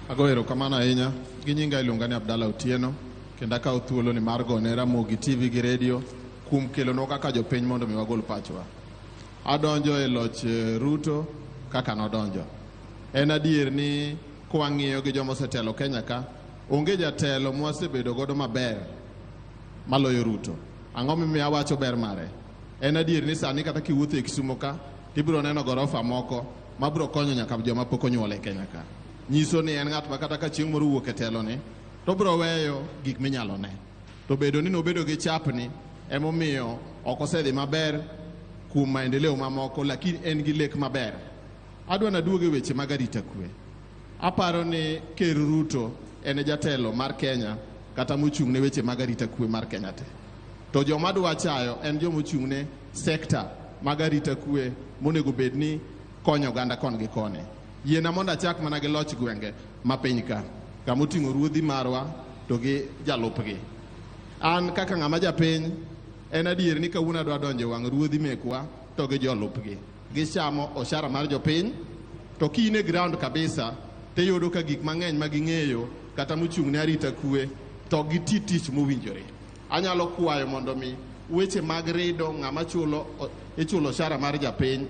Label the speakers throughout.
Speaker 1: Ago erokamano ahinya. Gi nyinga iluonga ni Abdalla Otieno kendo akawo thuolo ni mar gone Ramogi TV gi redio kuom kelonwa kaka jopiny mondo mi wagol pachwa. Adonjo e loch eh, Ruto kaka nodonjo. En adier ni kwang'iyo gi joma osetelo Kenya ka, onge jatelo mwasebedo godo maber maloyo Ruto. Ang'o mimiyo awacho ber mare? En adier ni sani kata kiwuotho e Kisumo ka, tibiro neno gorofa moko ma biro konyo nyaka joma pok onyuol e Kenya ka. Nyiso ni en ng'at ma kata ka chieng' moro wuok e telone, to biro weyo gik minyalo ne. To bedo ni nobedo gi chapni emomiyo ok osedhi maber kuom maendeleo mamoko, lakini en gi lek maber. Adwa naduog e weche mag arita kwe. Aparo ni Ker Ruto en e jatelo mar Kenya kata mochung' ne weche mag arita kwe mar Kenya te. To joma dwa chayo en joma ochung' ne sekta mag arita kwe monego bed ni konyo oganda kon gi koni. Yiena mondo achak mana gi loch gwenge ma piny ka, kama oting'o ruodhi marwa to gi jalupgi. An kaka ng'ama japiny, en adier ni kawuono adwa donjo e wang' ruodhi mekwa to gi jolupgi. Gichamo oshara mar jopiny, to ki in e ground kabisa, tiyudo ka gik mang'eny ma ging'eyo kata mochung' ne arita kwe, to ok giti tich mowinjore. Anyalo kwayo mondo mi weche mag rido ng'ama chulo ichulo oshara mar japiny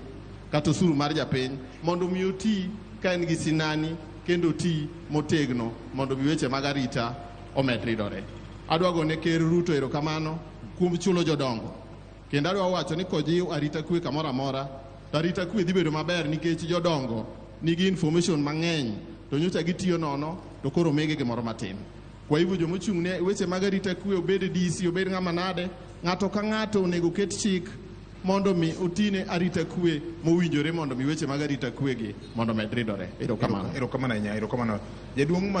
Speaker 1: kata osuru mar japiny mondo mi oti ka en gi sinani kendo oti motegno mondo mi weche mag arita omed ridore. Adwa gone Ker Ruto erokamano kuom chulo jodongo kendo adwa wacho ni kojiw arita kwe kamoro amora to arita kwe dhi bedo maber nikech jodongo nigi information mang'eny to nyocha gitiyo nono to koro omigi gimoro matin. Kwa hivyo joma ochung' ne weche mag arita kwe obed DC obed ng'ama nade, ng'ato ka ng'ato onego oket chik mondo mi otine arita kwe mowinjore mondo mi weche mag arita kwe gi mondo med
Speaker 2: ridore.
Speaker 1: Erokamano.
Speaker 2: Erokamano
Speaker 1: ahinya, erokamano. Jaduong' ma